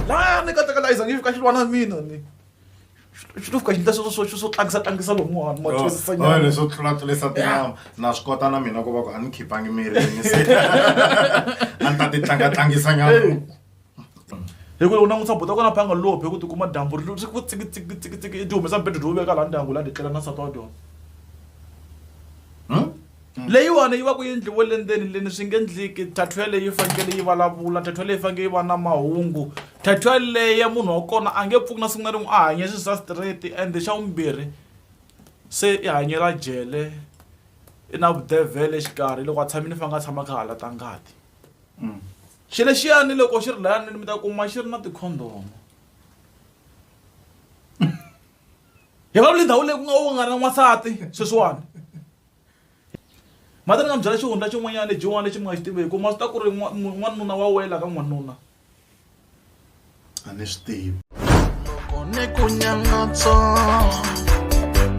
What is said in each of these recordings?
la ni katekela iza ngi fika xi lwa na mina ni xi to fika xi ndla sweswo swo swo tlangisa tlangisa lomuwani ma twisisa Oh, nyana leswo tlulatlulisa tinama na swi kota na mina ku va ku a ni khipangi mirini se a ni ta ti tlangatlangisa nyana hi ku loko na n'wi tsabota kona phanga lophe hi ku tikuma dyambu ri ri ku tsikitsikitsikitsiki i ti humesa mbedo dyo veka laha ndyangu laha ndzi tlela na nsati wa dyona Hmm? leyiwani yi va ku yi ndliwe le ndzeni leni swi nge ndliki thathu yaleyi yi fanekele yi vulavula thathu yaleyi yi fanekele yi va na mahungu thathu yaleyi ya munhu wa kona a nge pfuki na siku na rin'we a hanye swi swa straight ende xa vumbirhi se i hanyela jele i na vudevhele xikarhi loko a tshami ni fa nga tshama kha hala ta ngati mm. xi lexiyani loko xi ri layanini mi ta kuma xi ri na tikhondomo hi va lindhawu leyi ku nga u nga na n'wansati sweswiwani mhata ni nga mi byela xihundla xin'wanyana lexiwani lexi mi nga xi tiveki ku ma swi ta ku ri n'wanuna wa wela ka n'wanuna a ni swi tivi loko ni ku nyangatso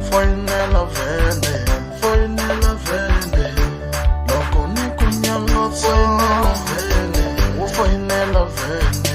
foyinela vhele foyinela vhele loko ni ku nyangatso vhele wo foyinela vhele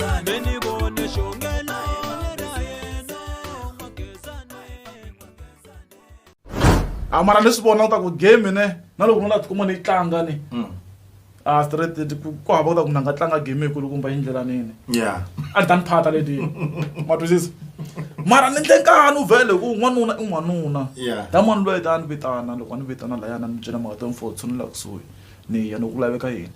a mara leswi vona ta ku game ne na loko nona tikuma ni yi tlanga ni hmm. a ah, straight ku hava ku ta ku na nga tlanga game yikulu kumba yi ndlela nini a ni ta ni phata leti ma twisisa mara ni ndle nkani u vhele ku n'wanuna i n'wanuna ta mani loyi ta ni vitana loko a ni vitana layana ni byela mhaka ta mfo tshunela kusuhi ni ya ni ku laveka yini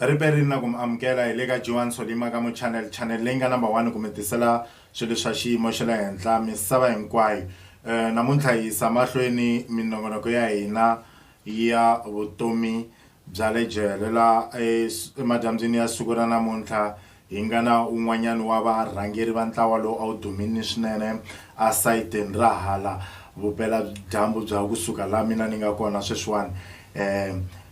Riperini na ku mi amukela hi le ka Johan Solimakamo Channel, channel leyi nga number one ku mi tisela swilo swa xiyimo xa le henhla misava hinkwayo. Namuntlha hi yisa mahlweni minongonoko ya hina ya vutomi bya le jele laha emadyambyini ya siku ra namuntlha Hi nga na un'wanyana wa varhangeri va ntlawa lowu a wu dumile swinene esayitini ra hala vupela-dyambu bya kusuka laha mina ni nga kona sweswiwani,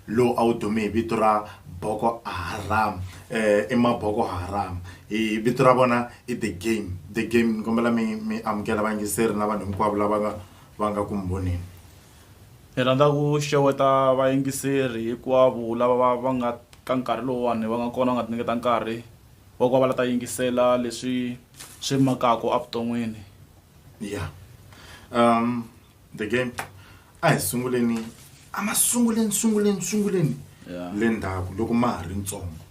lowu a wu dume hi vito ra Boko Haram. I Maboko Haram. Vito ra vona i The Game. The Game. Ni kombela mi mi amukela vayingiseri na vanhu hinkwavo lava va nga va nga ku mi voneni. Hi rhandza ku xeweta vayingiseri hikwavo lava va nga ka nkarhi lowuwani va nga kona va nga tinyiketa nkarhi wa ku va va la ta yingisela leswi swi makaka evuton'wini. Ya The Game a hi sunguleni a masunguleni sunguleni sunguleni le ndzhaku loko ma ha ri ntsongo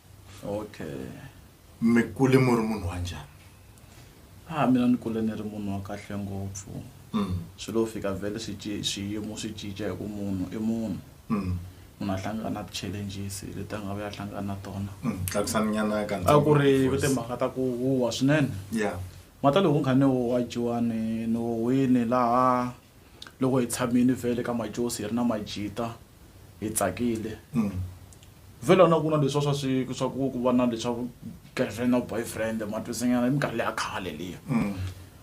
mi kule mi ri munhu wa njhani? ha ah, mina ni kule ni ri munhu wa kahle ngopfu mm. swi lo fika vhele swiyimo swi cinca hi ku munhu i munhu mm. munhu a hlangana na ti-challenges leti a nga va ya hlangana na tona mm. a ku ri timhaka ta ku huwa swinene mata loko nkha ni huwa jiwani ni huwini laha loko hi tshamile vhele ka majosi hi ri na majita hi tsakile vhele a na ku na leswa swa swi swa ku ku va na leswa girlfriend na boyfriend matwisinyana i minkarhi leya khale liya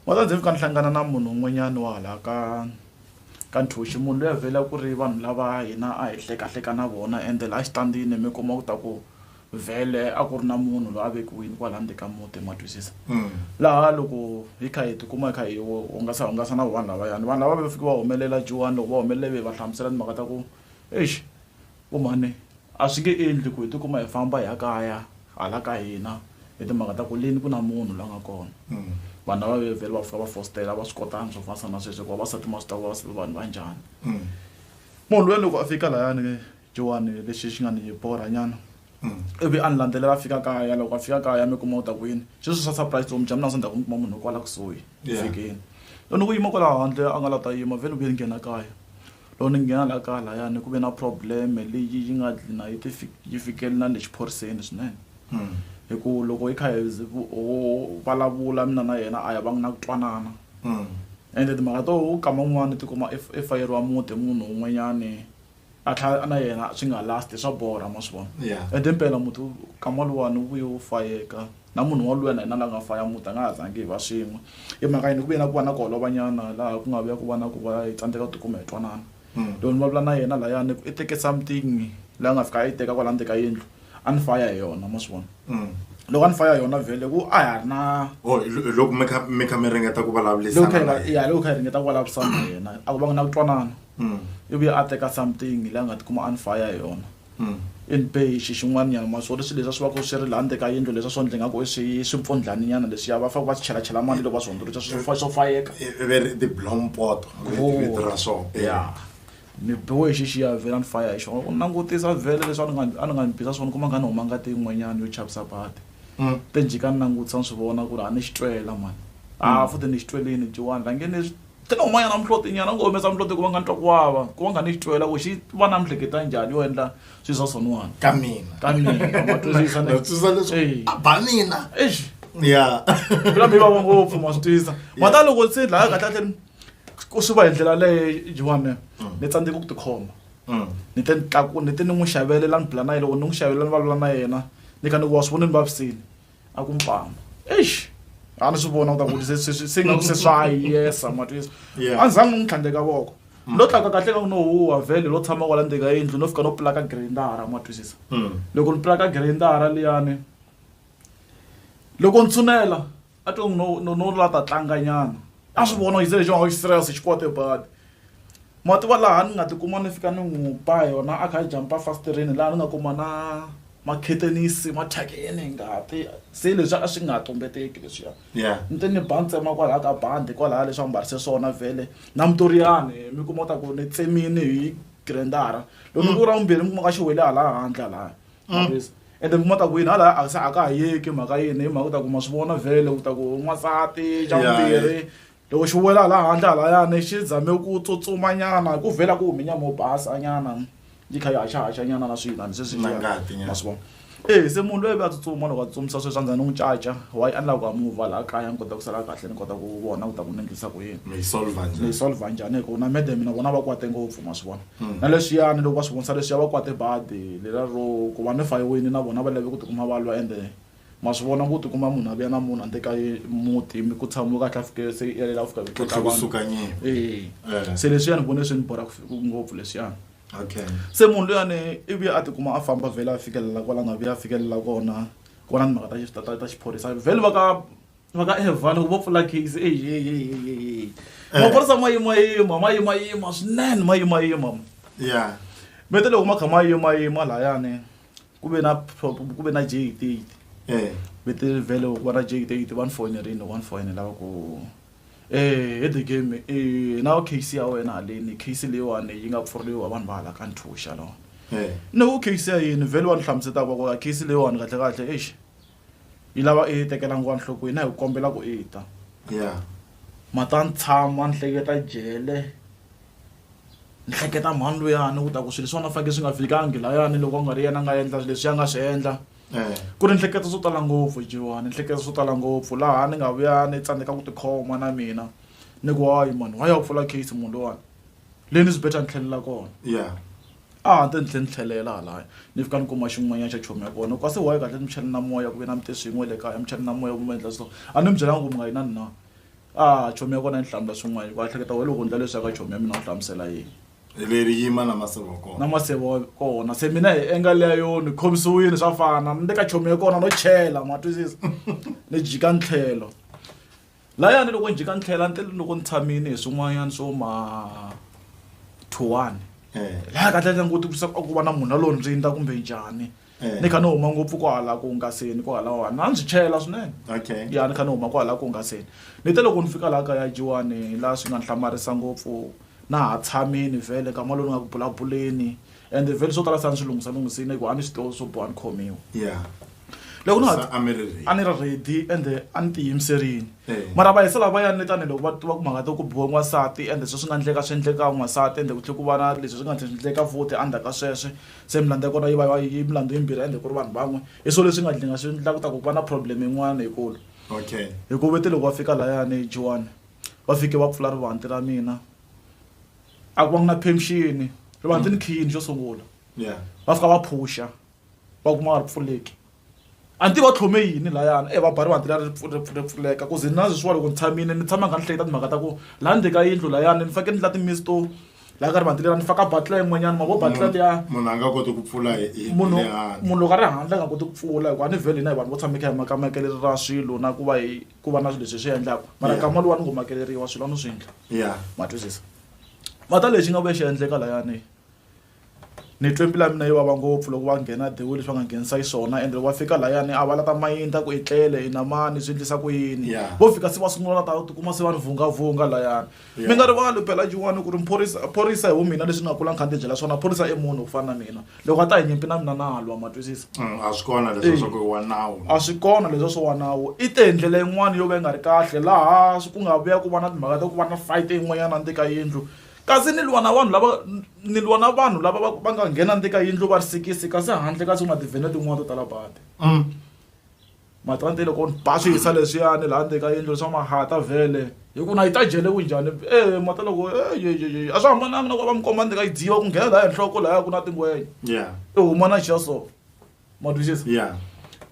wa za ndzi fika ni hlangana na munhu un'wanyana wa hala ka ka nthoxi munhu loyi a vhela ku ri vanhu lava hina a hi hlekahleka na vona ende laha xitandini mi kuma ku ta ku vhele a ku ri na munhu loyi a vekiwini kwala ndzeni ka muti ma twisisa laha loko hi kha hi tikuma hi kha hi hungasa hungasa na vanhu lavayani vanhu lava va fike va humelela juwani loko va humelele ve hi va hlamusela timhaka ta ku exi vo mhani a swi nge endli ku hi tikuma hi famba hi ya kaya hala ka hina hi timhaka ta ku leni ku na munhu la nga kona vanhu lava ve vhele va fika va fositela a va swi kotanga swo fana na sweswo hikuva vavasati ma swi tiva ku vavasati va vanhu va njhani munhu luya loko a fika layani. Johane lexi xi nga ni borhanyana. Ivi a ni landzelela a fika kaya. Loko a fika kaya mi kuma u ta ku yini? Sweswo swa surprise vutomi bya mina a swi ndhaku ni kuma munhu kwala kusuhi ku fikeni. Loko ni ku yima kwala handle a nga la ta yima vhele ni vuye ni nghena kaya. Loko ni nghena la kaya layani ku ve na problem leyi yi nga gcina yi ti yi fikele na le xiphoriseni swinene. Hi ku loko hi kha hi ho vulavula mina na yena a hi vanga na ku twanana. Ende timhaka to u kama un'wani u ti kuma i i fayeriwa muti hi munhu un'wanyani. a tlhela na yena swi nga last swa borha ma swi vona yeah. ende mpela muti kama luwani wu vuye wu fayeka na munhu waluya na yena la nga faya muti a nga ha zangi hi va swin'we i mhaka yini ku vuye na ku va na ku holovanyana laha ku nga vuya ku va na ku va hi tsandzeka ku tikuma hi twanana hmm. loko ni vulavula na yena layani ku i teke something la nga fika a yi teka kwala ndzeka yindlu a ni faya hi yona ma swi vona loko a ni faya hi yona vhele ku a ha ri na oh, loko mi kha mi kha mi ringeta ku vulavurisana ya loko kha hi ringeta ku vulavurisana na yena a ku va nga na ku twanana mm. ivi a teka something leyi a nga tikuma a ni faya hi yona mm. in bay xi xin'wanyana ma swo leswi leswi a swi va ku swi ri laha ndzeka yindlu leswi a swo ndle nga ku swi swi mpfundlhaninyana leswiya va faneke va swi chelachela mali loko va swi hundzuluxa swo fayeka ve ri tiblompoto vito ra swona ya Ni biwe hi xixiya a vhela ni faya hi xona. Loko ni langutisa vhele leswi a ni nga a ni nga ni bisa swona ni kuma ingaku ni huma ngati yin'wanyana yo chavisa badi. Te ni jika ni langutisa ni swi vona ku ri a ni xi twela mhani. Ha futhi ni xi twelini jiwani la nge ni swi te ni huma nyana muhloti-nyana ni ngo humesa muhloti hikuva nga ni twa ku vava ku va ni kha ni xi twela ku xi va na mihleketa njhani yo endla swi swa swoniwani ka mina ka mina ma twisisa ne. Na twisisa leswi Eyi. a ba mina. Eish. Ya. Phela mi vava ngopfu ma swi twisisa. Mara loko se laya kahle kahle ni. ku swi va hi ndlela leyi jiwame mm. ni tsandzeke ku tikhoma mm. ni te ni tlaku ni te ni n'wi xavelela ni bula na yena loko ni n'wi xavelela ni valula na yena ni ka ni ku wa swi vona ni vavisini a ku mpama eish a ni swi vona kuta kuti se nga ku se swa yesa matwisa a ni zangi ni n'wi tlhandleka voko mm. lo tlaka kahle ka ku no huwa vhele lo tshama kwala ndzika yindlu no fika no pulaka grindara ma twisisa loko ni pulaka grindara liyani loko ni tshunela a twe no no no la ta tlanga nyana a swi vona yise lexi xi serious xi kwate badi ma tiva laha ni nga ti kuma ni fika ni n'wi ba yona a kha a jampa fasitireni laha ni nga kuma na makhetenisi ma thyakeni ngati se leswi a swi nga tumbeteki leswiya ni te ni ba ntsema kwalaha ka bandi kwalaha leswi a mbarise swona vhele na mutoriyani mi kuma ta ku ni tsemini hi grandara loko ni ku ra vumbirhi mi kuma ka xi wele hala handle lahaya mavisa ende kuma ta ku yini hala a se a ka ha yeki mhaka yini hi mhaka u ta kuma swi vona vhele u ta ku n'wansati xa vumbirhi loko xi wela hala handle halayani xi zame ku tsutsumanyana hi ku vhela ku hume nyama yo basa nyana yi kha yi haxahaxa nyana na swiyinani se swi ma swi vona e se munhu loyi ve a tsutsuma loko a tsutsumisa sweswi a ndzani n'wi caca wa yi endla ku a mova laha kaya ni kota ku sala kahle ni kota ku vona ku ta ku ni endlisa ku yini ni yi solva njhani hi ku na madam na vona va kwate ngopfu ma swi vona Hmm. na leswiyani loko va swi vonisa leswiya va kwate badi lela ro ku va ni fayiweni na vona va lave ku tikuma va lwa ende ma swi vona ku tikuma munhu a vuya na munhu a nte ka muti mi ku tshamiwe kahle a fike se i yalela ku fika ku tlotla vanhu ee eh. se leswiyani vone swi ni borha ngopfu leswiyani okay se munhu luyani i vuya a tikuma a famba vhele a fikelela kwala nga vuya a fikelela kona ku va na timhaka ta ta ta xiphorisa vhele va ka va ka evhana ku vo pfula gigsi ehehehehe maphorisa ma yimayima ma yimayima swinene ma yimayima ya mi te loko ma kha ma yimayima layani ku ve na ku ve na jeyiteyiti eh. mi te vhele ku va na jeyiteyiti va ni foyinerini loko va ni foyinela va ku um he the game um na case ya wena haleni case leyiwani yi nga pfuriwa vanhu va hala ka nthuxa lawa eh. ni ku case ya yini vhele va ni hlamusetaka va ku case leyiwani kahlekahle exi yi lava i yi tekela nguva nhlokweni a hi ku kombela ku i ta ya ma ta ni tshama ni hleketa jele ni hleketa mhani luyani ku ta ku swilo swona faneke swi nga fikangi layani loko a nga ri yena a nga endla leswi a nga swi endla eh. ku ri ni hleketa swo tala ngopfu jiwani ni hleketa swo tala ngopfu laha ni nga vuya ni tsandzeka ku tikhoma na mina ni ku wayi mani wa ya pfula case munhu lowani leyi ni zibeta ni tlhelela kona ya a ha te ni tlhe ni tlhelela halaya ni fika ni kuma xin'wanyana xa chomi ya kona ku kasi waye kahle ni muchani na moya ku ve na mi te swin'we le kaya muchani na moya ku mi endla so a ni mi byelanga ku mi nga yi na ni na a chomi ya kona yi ni hlamula swin'wana ku a hleketa why loko ndla leswi ya ka chomi ya mina u hlamusela yini leri yima na maseve wa kona na maseve wa kona se mina hi enga leya yo ni khomisiwile swa fana ni le ka chomi ya kona no chela ma twisisa ni jika ni tlhelo Laya ni loko ni jika ni tlhela ni te loko ni tshamile hi swin'wanyana swo ma thuwani laya kahle ni languti ku ku va na munhu a lo ndzindza kumbe njhani ni kha ni huma ngopfu ku hala ku hungaseni ku hala wani a ndzi chela swinene ya ni kha ni huma ku hala ku hungaseni ni te loko ni fika laha kaya jiwani laha swi nga ni hlamarisa ngopfu na ha tshamini vhele nkama lowu ni nga ku bulabuleni ende vhele swo tala se a ni swi lunghisalunghisile ku a ni swi tivi swo biwa ni khomiwa ya. loko na a mi ri ready a ni ri ready ende a ni tiyimiserile Eh. mara va hisa lava va yanile tanihiloko va tiva ku mhaka to ku biwa n'wansati ende sweswi nga endleka swi endleka n'wansati ende ku tlhe ku va na leswi swi nga tlhe swi endleka futhi endzhaku ka sweswe se milandzu ya kona yi va yi va- yi milandzu yimbirhi ende ku ri vanhu van'we hi swilo leswi nga dlinga swi endla ku ta ku va na problem yin'wana yikulu okay hikuva vete loko va fika layani joani va fike va pfula rivanti ra mina a ku va ku na permission rivanti ni khiyini xo sungula yeah va fika va phusha va kuma nga ri pfuleki a ni tivi va tlhome yini layana e va ba rivanti leri ri pfuleka ku ze na sweswiwa loko ni tshamile ni tshama ni kha ni hleketa timhaka ta ku laha ndzeni ka yindlu layani ni fanekele ni la timisi to laha ka rivanti leri ni faka batla yin'wanyana ma vo batla liya munhu a nga koti ku pfula munhu munhu loko a ri handle a nga koti ku pfula hikuva a ni vhele hina hi vanhu vo tshama hi kha hi makamakele ra swilo na ku va hi ku va na swilo leswi hi swi endlaka mara kama lowa ni ngo makeleriwa swilo a no swi endla ma twisisa mara lexi nga vuya xi endleka layani Ni twe mbilu ya mina yi vava ngopfu loko va nghena dewula leswi va nga nghenisa xiswona ende loko va fika layani a va la ta mayindla ku i tlele i na mani swi endlisa ku yini Yeah. vo fika se va sungula va ta tikuma se va ni vhungavhunga layani Yeah. mi nga rivali phela jin'wani ku ri mphorisa phorisa hi vumina leswi ni nga kula ni kha ni tibyela swona phorisa i munhu ku fana na mina loko a ta hi nyimpi na mina na lwa ma twisisa Mm, a swi kona leswo swa ku i wa nawu a swi kona leswi swo wa nawu i te hi ndlela yin'wana yo ka yi nga ri kahle laha swi- ku nga vuya ku va na timhaka ta ku va na fight yin'wanyana ndzeni ka yindlu kasi ni lwa na vanhu lava ni lwa na vanhu lava va va nga nghena ni ka yindlu va ri sikisi kasi handle kasi ku na tivhene tin'wana to tala badi mm. matante loko ni ba swi hisa leswiyani laha ndzeni ka yindlu leswa mahata vhele hi ku na yi ta jele ku njhani e eh, mata loko eh, a swi hambananga na ku va mi komba ndzeni ka yi dziva ku nghena laha henhloko lahaya ku na tingwenya i huma na xiya so ma twisisa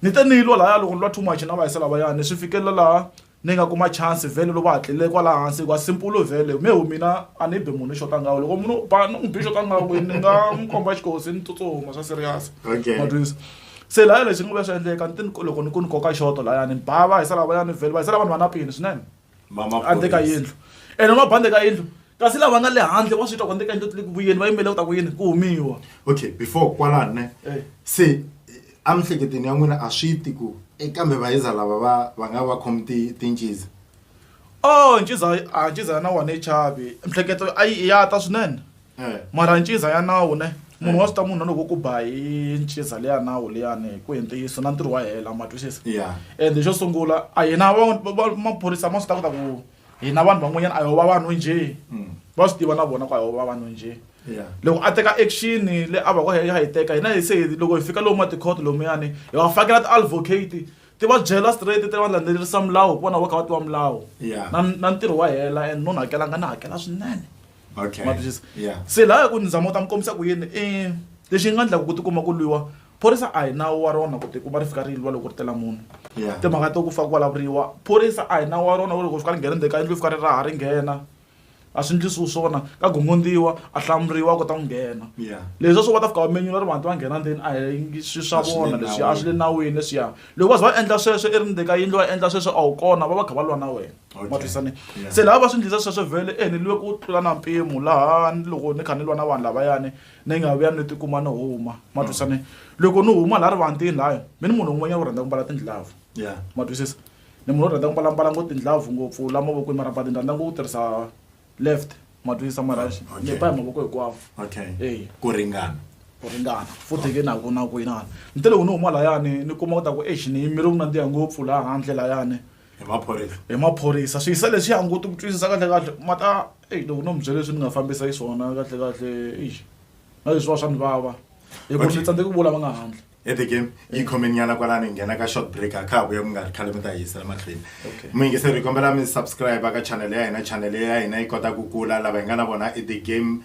ni te ni yi lwa lahaya loko ni lwa too much na vahisa lavayani swi fikelela laha Ninga kuma chance vele loko hatlile kwala hansi hikuva simple vele me hu mina a ni bi munhu xota ngaho loko munhu ba ni n'wi bi xota ngaho kwini ni nga n'wi komba xikosi ni tsutsuma swa serious ma twisa se laya lexi ni ngo ve swa endleka ni ti loko ni ku ni koka xoto layani ni ba va hisa lavayani vhele va hisa lava ni va na peni swinene handle ka yindlu ene ni va ba ndle ka yindlu kasi lava nga le handle wa swi twa ku ndle ka yindlu ti le ku vuyeni va yimele ku ta ku yini ku humiwa okay before kwalani ne se Emihleketweni ya n'wina a swi ti ku, E kambe vaYiza lava va va nga va khomi ti tinciza? Oh, nciza a nciza ya nawu a ni chavi. Mihleketo a yi ya ta swinene. Mara nciza ya nawu ne, munhu wa swi ta munhu na loko wo ku ba hi nciza leyi ya nawu liyani ku hi ntiyiso na ntirho wa hela ma twisisa. And xo sungula a hina va va maphorisa ma swi ta ku ta ku hina vanhu van'wanyana a hi va vanhu njhe mm. va swi tiva na vona ku a hi va vanhu njhe loko a teka action le a va ku ya hi teka hina hi se loko hi fika lomu matikhoto lomuyani hi va fakela ti-advocate ti va byela straight ti va landzelerisa milawu ku vona va kha va tiva milawu na ntirho wa hela and no ni hakelanga ni hakela swinene se laha ku ni zama u ta mi kombisa ku yini i lexi nga endlaka ku tikuma ku lwiwa phorisa a hi nawu wa rona ku tikuma ri fika ri lwa loko ri tela munhu timhaka to ku fa ku vulavuriwa phorisa a hi nawu wa rona ku loko fika ri nghena ndzeni ka yindlu fika ri raha ri nghena a swi ndlisiwi swona ka gongondziwa a hlamuriwa kota ku nghena leswi swo va ta fika va menyula ri vanhu va nghena ndzeni a hi swi swa vona leswi a swi le nawini leswiya loko va ze va endla sweswo i ri ndzeni ka yindlu va endla sweswo a wu kona va va kha va lwa na wena ma twisane se lava va swi ndlisa sweswo vhele e ni lwe ku tlula na mpimo laha ni loko ni kha ni lwa na vanhu lavayani ni nga vuya ni tikuma ni huma ma twisisa ni loko ni huma laha rivantini lahaya mi ni munhu un'wanyana u rhandza ku mbala tindlavu Yeah. ma twisisa ni munhu u rhandza ku mbala mbala ngo tindlavu ngopfu la mavokweni mara but ni rhandza ngo ku tirhisa left ma twisisa mara Okay. ni ba hi mavoko hikwavo Okay. Eya. Ku ringana. ku ringana futhi ke naku na ku inana ni te loko ni huma layani ni kuma ku ta ku exi ni yimile ku nandziha ngopfu laha handle layani hi maphorisa hi maphorisa swi yisa leswi ya hanguti ku twisisa kahle kahle ma ta eyi loko no mi byele leswi ni nga fambisa yi swona kahle kahle eyi na leswi va swa ni vava hi ku ni tsandzeki ku vula va nga handle e the game yi eh. khomeni nyana kwalani hi nghena ka short break a kha ha vuya ku nga ri khale mi ta yisa emahlweni muyingiseri hi kombela mi subscribe ka channel ya hina channel ya hina yi kota ku kula lava hi nga na vona i the game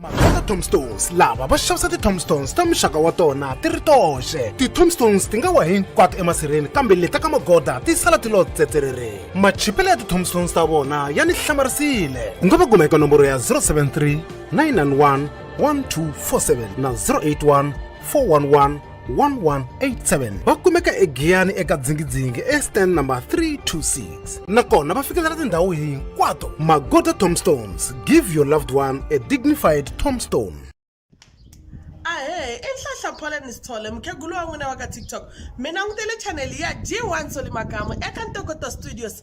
Mavheta tombstones lava va xavisa ti-tombstones ta muxaka wa tona ti ri toxe ti-tombstones ti nga wa hinkwato emasirheni kambe leta ka magoda ti sala ti lo tsetserere machipelo ya ti-tombstones ta vona ya ni hlamarisile u nga va kuma eka nomboro ya 073 991 1247 na 081 411 1187 va kumeka egiyani eka dzingidzingi estand number 326 nakona va fikelela tindhawu hinkwato magoda tombstones give your loved one a dignified tombstone ahe i nhlahla poleni sithole mukhegulu wa n'wina wa ka tiktok mi langutele chaneli ya g1 solimakamu eka ntokoto studios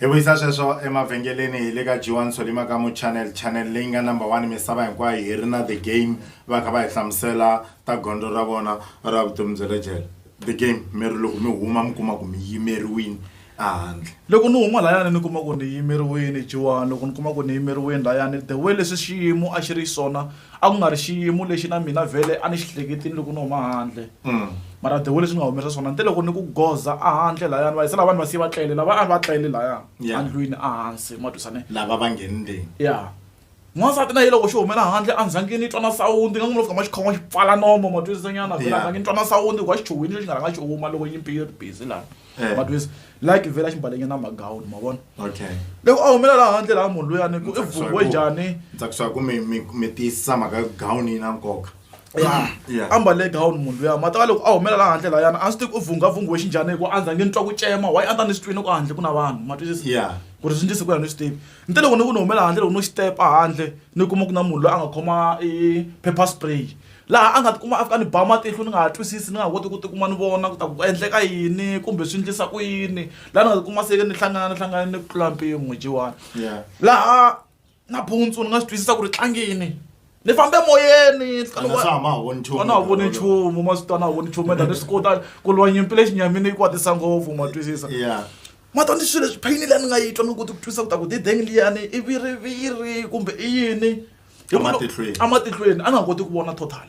hi vuyisa sweswo emavhengeleni hi le ka G1 Solly Makamu channel channel leyi nga number one misava hinkwayo hi ri na the game va kha va hi hlamusela ta gondzo ra vona ra vutomi bya le jele the game mi ri loko mi huma mi kuma ku mi yimeriwini ehandle loko ni huma layani ni kuma ku ni yimeriwini G1 loko ni kuma ku ni yimeriwini layani the way leswi xiyimo a xi ri xiswona a ku nga ri xiyimo lexi na mina vhele a ni xi hleketini loko ni huma handle mara the way leswi ni nga humerisa swona ni te loko ni ku goza a handle lahaya ni va yisa lava ni va siye va tlele lava a va tlele lahaya Yeah. andlwini a hansi ma twisane lava va nghenileni ya n'wansati na ye loko xi humela handle a ndzhangi ni twa na sawundi nga n'wi lo fika ma xikhoma xi pfala nomo ma twisisanyana vhela Yeah. ndzhangi ni twa na sawundi hikuva xichuhwini xo xi nga rhanga xi huma loko nyimpi yi ri busy laha Eh. but wes la ke vela ximbalenyana magown ma vona okay loko a humela laha handle laha munhu luyani ku i vumbiwe njhani ndza ku swa ku mi mi mi tiyisisa mhaka gown yi na nkoka ya Yeah. a mbale gown munhu luya mata ka loko a humela laha handle layana a swi tivi u vunghhavunghiwe xinjhani hikuva a ndza nge ni twa ku cema wayi a ndza ni swi twini ku handle ku na vanhu ma twisisa ya ku ri swi ndlise ku ya ni swi tivi ni te loko ni ku ni humela handle loko no xitepa handle ni kuma ku na munhu loyi a nga khoma i paper spray laha a nga tikuma a fika ni ba matihlo ni nga ha twisisi ni nga ha koti ku tikuma ni vona ku ta ku endleka yini kumbe swi endlisa ku yini laha ni nga tikuma se ni hlangana ni hlangana ni ku tlula mpimo jiwani laha nampundzu ni nga swi twisisa ku ri tlangini ni fambe moyeni a na ha voni nchumu ma swi twa na ha voni nchumu enda ni swi kota ku lwa nyimpi lexi nyamini yi kwatisa ngopfu ma twisisa mata ni swilo leswi phayini leyi ni nga yi twa ni koti ku twisa ku ta ku dideng liyani i viriviri kumbe i yini Hi mhaka- Ematihlweni. ematihlweni a ni nga koti ku vona total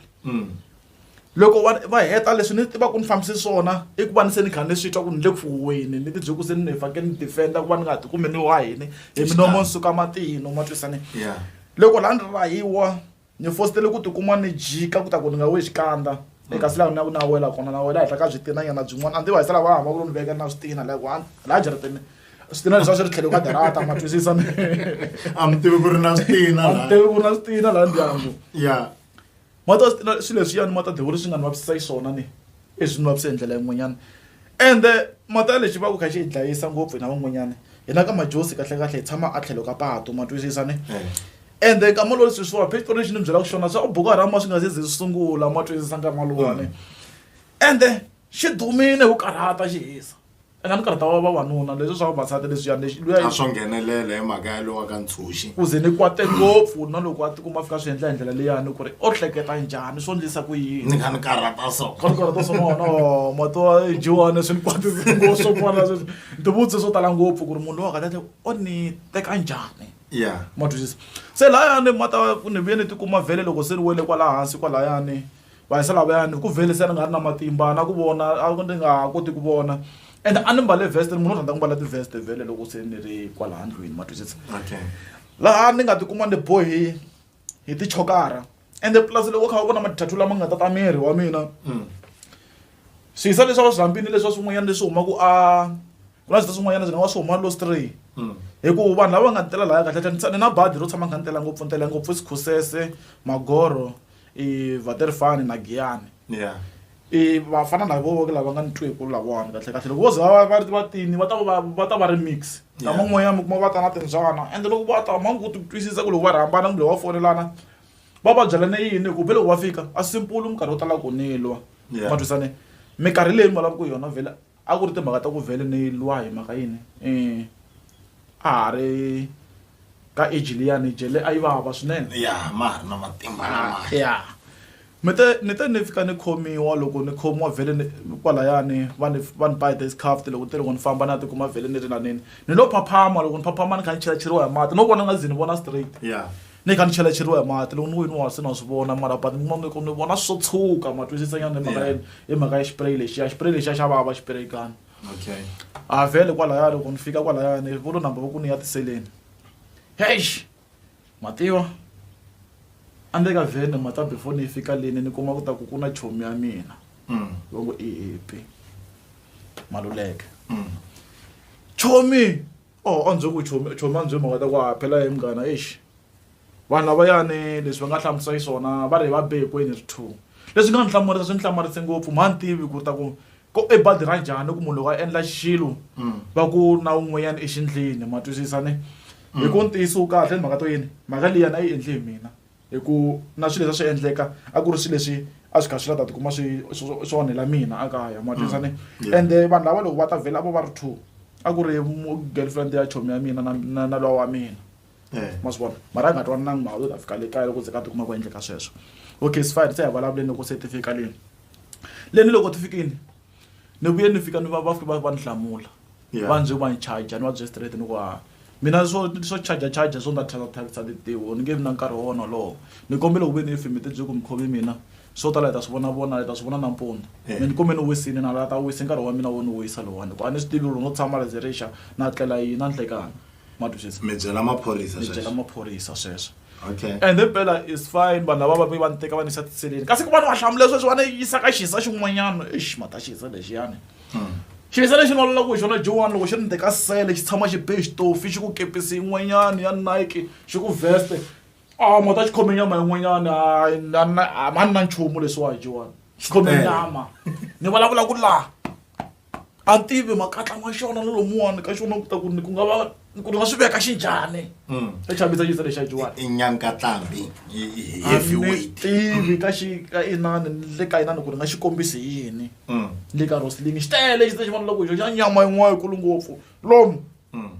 loko va va heta leswi ni tiva ku ni fambise swona i ku va ni se ni kha ni swi twa ku ni le ku fuweni ni tibyele ku se ni fanekele ni defenda ku va ni nga ti kumi ni wahini hi minomo ni suka matino ma twisane ya loko laha ni rahiwa ni fositele ku tikuma ni jika ku ta ku ni nga we xikandza eka silaha na ku na wela kona na wela henhla ka byitinanyana byin'wana a ni tiva hi sala va hamba ku lo ni veka na switina like one laha jaratini switina leswi a swi ri tlhelo ka darata ma twisisa mi a mi tivi ku ri na switina a mi tivi ku ri na switina laha ndyangu ya ma ta switina swilo leswiyani ma ta devuri swi nga ni vavisisa xiswona ni leswi ni vavise hi ndlela yin'wanyana ende mata lexi va ku kha xi hi dlayisa ngopfu hina van'wanyana hina ka majosi kahlekahle hi tshama a tlhelo ka patu ma twisisa ni ende eh. kama lowu leswi swiwa phexitori lexi ni byelaka xona swa ku buku a rama swi nga se ze swi sungula ma twisisa nkarhi malowani ende xi dumile wu karhata xi hisa eka ni karhata wa vavanuna leswi swa vavasati leswiyani lexi luya a swo nghenelela hi mhaka ya lowa ka ntshunxi ku ze ni kwate ngopfu na loko a tikuma a fika swi endla hi ndlela leyani ku ri o hleketa njhani swo ndlisa ku ni yini nga ni karhata so ka ni karhata swa mona o mato jiwani swi ni kwatise ngopfu swo fana sweswi ni tivutise swo tala ngopfu ku ri munhu loyi wa kahle o ni teka njhani ya ma twisisa se layani ma ta ku ni vuye ni tikuma vhele loko se ni wele kwala hansi kwalayani Vaisraele lavaya ni ku vele se ni nga ri na matimba na ku vona a ni nga ha koti ku vona and a ni mbale vest ni munhu u rhandza ku mbala ti-vest vhele loko se ni ri kwalaha ndlwini ma twisisa laha ni nga tikuma ni bohi hi tichokara ende plus loko kha u vona mathathu lama nga tata miri wa mina mm. swihisa leswi a va swi rhambini leswi a swin'wanyana leswi humaka a ku na swita swin'wanyana swi nga va swi huma lostray mm. hikuva vanhu lava va nga ni tela laya kahle kahle ni na badi ro tshama kha ni tela ngopfu ni tela ngopfu sikhusese magoro i vaterifani na giyani yeah i vafana lavo ke lava nga ni twi ku lavona kahle kahle loko vo za va va va tini va ta va va ta va ri mix Yeah. kama n'wanyana mi kuma va ta na timbyana ende loko va ta ma ngu ti twisisa ku loko va rhambana kumbe va fonelana va va byelane yini hikuva loko va fika a simpulu minkarhi yo tala ku nilwa Yeah. ma twisane minkarhi leyi mi vulavaka yona vhele A ku ri timhaka ta ku vhele ni lwa hi mhaka yini a ha ri ka age liyani jele a yi vava swinene ya ma ha ri na matimba lama ya mi te ni te ni fika ni khomiwa loko ni khomiwa vhele ni kwalayani va ni va ni ba hi ti-scuffed loko ni te loko ni famba ni ya tikuma vhele ni ri laneni ni lo phaphama loko ni phaphama ni kha ni chelacheriwa hi mati no vona ni nga ze ni vona straight ya. ni kha ni chelacheriwa hi mati loko ni wini wa se na swi vona mara but ni mameko ni vona swo tshuka ma twisisanyana hi mhaka yini hi mhaka ya xipireyi lexiya xipireyi lexiya xa vava xipireyi kani okay a vhele kwalaya loko ni fika kwalaya ni volo number va ku ni ya tiseleni heish mativa a ndzi ka vhene mata before ni yi fika leni ni kuma ku ta ku ku na chomi ya mina mm. va ngo i hipi maluleke mm. chomi oh a ndzi ku chomi chomi a ndzi mhaka ta ku a phela hi munghana eish vanhu lavayani leswi va nga hlamusa xiswona va ri va be hinkwenu ri two leswi nga ni hlamarisa swi ni hlamarise ngopfu mha ni tivi ku ri ta ku ko i badi ra njhani ku munhu loko a endla xilo va ku na un'wanyana exindlini ma twisisa ni hi ku ntiyiso wu kahle ni mhaka to yini mhaka liyani a yi endli hi mina hi ku na swilo leswi a swi endleka a ku ri swilo leswi a swi kha swi la ta tikuma swi swi onhela mina a kaya ma twisane mm. ende vanhu lava loko va ta vhela vo va ri two a ku ri girlfriend ya chomi ya mina na na lowa wa mina eh. ma swi vona mara a nga twananangi mhaka yo ta fika le kaya loko ze ka tikuma ku endleka sweswo okay sifine se hi vulavuleni loko se ti fika leni leni loko ti fikini ni vuye ni fika ni va va fike va va ni hlamula Yeah. va ndzi va ni charger ni va bye straight ni ku a mina swo swo charger charger swo nga thyaka thyakisa tintiho ni nge vi na nkarhi wa wona lowo ni kombele ku ve ni fimi ti byi ku mi khomi mina swo tala hi ta swi vona vona hi ta swi vona nampundzu Yeah. mi ni kumbe ni wisile na la ta wisa nkarhi wa mina wo ni wisa lowani ku a ni swi tivi loko no tshama la zerixa na tlela yini na nhlekani ma twa sweswo mi byela maphorisa mi byela maphorisa sweswo okay and then phela is fine vanhu lava va ve va ni teka va ni yisa tiseleni kasi ku va ni va hlamula sweswo va ni yisa ka xisa xin'wanyana exi ma ta xisa lexiyani hmm. xisa lexi ni valolaka hi xona joan loko xi ri ni teka sele xi tshama xi be xitofi xi ku kepisi yin'wanyana ya nike xi ku veste a ah, ma ta xi khome nyama yin'wanyana a ma ni na nchumu leswiwa hi joan xi khome nyama ni vulavula ku laha a tivi makatla ma xona na lomuwani ka xona ku ta ku ni ku nga va ni ku ni nga swi veka xi njhani Mm. ta chavisa xisa lexi ajiwani i nyankatlambi i i heavyweight tivi ka xi ka inani ni le ka inani ku ni nga xi kombisi hi yini Mm. le ka rosling xi tele xisa xi vona loko xo xa nyama yin'wana yikulu ngopfu lomu Mm.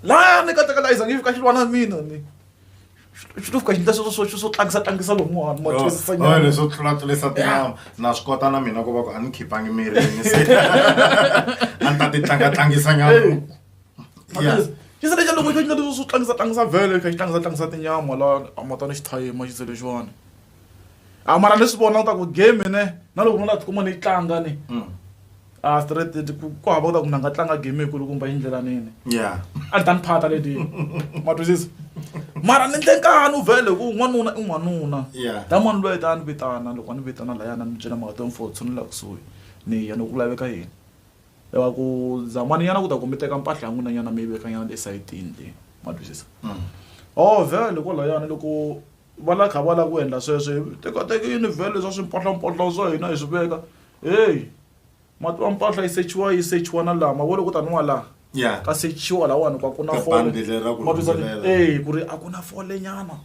laya ni katekalayiza ngi fika xi lwa na mina ni xi to fika xi ndla sweswo swo swo tlangisa tlangisa lomuwani ma twisisa nyana leswo tlula tlulisa tinama na swi kota na mina ku va ku a ni khipangi mirini se a ni ta ti tlanga tlangisa nyana Yeah. xi se lexa loko xi ndla leswo swo tlangisa tlangisa vhele xi kha xi tlangisa tlangisa tinyama la a ma ta ni xithayima xi se lexiwani a mara leswi vona u ta ku game ne na loko no la tikuma ni tlanga ni mm. a straight ti ku ku hava u ta ku na nga tlanga game ku kumba hi ndlela nini yeah a dan phata le di ma twisisa mara ni ndle nkani u vele ku n'wanuna i n'wanuna yeah da mani loyi ta ni vitana loko ni vitana la yana ni byela mhaka to mfo tshunela kusuhi ni ya no ku laveka yini lava ku zamani yana ku ta kumbe teka mpahla ya n'wina nyana mi yi veka nyana le sayitini le ma twisisa mm. oh vele ko la yana loko va la kha va lava ku endla sweswo hi tekateka univhele leswa swimpahlampohla swa hina hi swi veka heyi mati wa mpahla yi sechiwa yi sechiwa na laha mavona ku taniwa laha Yeah. ka sechiwa lahawani ku a ku na Ka fole bandi leri ra ku Ma twisisa ni- rhumbulela. eh ku ri a ku na fole nyana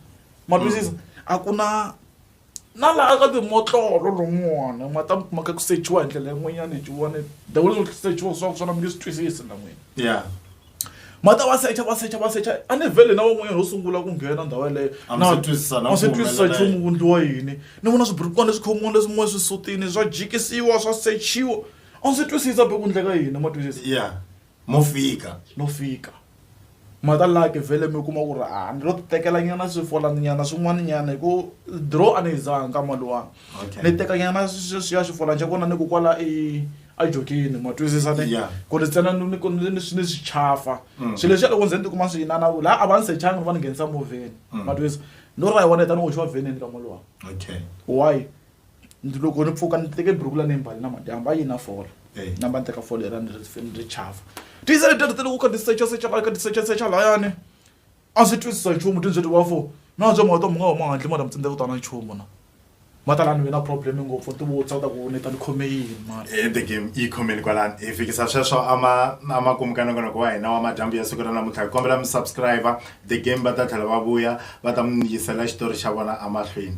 ma twisisa a ku na na laha ka timotlolo lomuwana ma ta ma ka ku sechiwa hi ndlela yin'wanyana hi jiwani the way swo sechiwa swa swona mi nge swi twisisi na n'wina ya ma ta va secha va secha va secha a ni vhele na van'wanyana ho sungula ku nghena ndhawu yeleyo A mi se twisisana a swi ku twisisa humelela nchumu yini. ku ndliwa yini ni vona swiburukwana leswi khomiwini leswin'wana swisutini swa jikisiwa swa sechiwa a ndzi twisisa be ku ndleka yini ma twisisa ya mo fika no fika ma ta laki vhele mi kuma ku ri a ni lo ti tekela nyana swifolaninyana swin'wana nyana hi ku draw a ni yi zanga ka mali wani Okay. ni tekanyana ya xifola xa kona ni ku kwala i a jokini ma twisisa ne Yeah. ku ri tsena ni- ni ku- ni ni- ni swi chafa swi leswi loko ndzi ni tikuma swi yinana ku laha a va ni sechanga ni va ni nghenisa movheni ma twisisa ni ri ra yi wona tani hoxiwa vheneni ka molowa Okay. why Ndzi- loko ni pfuka ni teke buruku la ni mbali na madyambu a yi na fola Eh. namba ni teka fola era ni ri ni ri chafa tiyisa leti ri tele ku ka tisecha secha ka tisecha secha layani a swi twisisa nchumu ti byi ti wa fo na bya mawuto mi nga huma handle mara mi tsindze ku twana nchumu na matalani mi na problem ngopfu ti vutsa ta ku ni ta ni khome yini mara e the game yi khomeni kwalani hi fikisa sweswo ama ama kumukana konoko wa hina wa madyambu ya siku ra namuntlha hi kombela mi subscribe the game va ta tlhela va vuya va ta mi yisela xitori xa vona amahlweni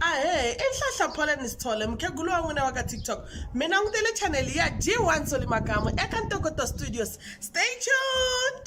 ahee i nhlahla pollen sithole mukhegulu wa n'wina wa ka tiktok mi langutele chaneli ya g one soli makamu eka ntokoto studios stay tuned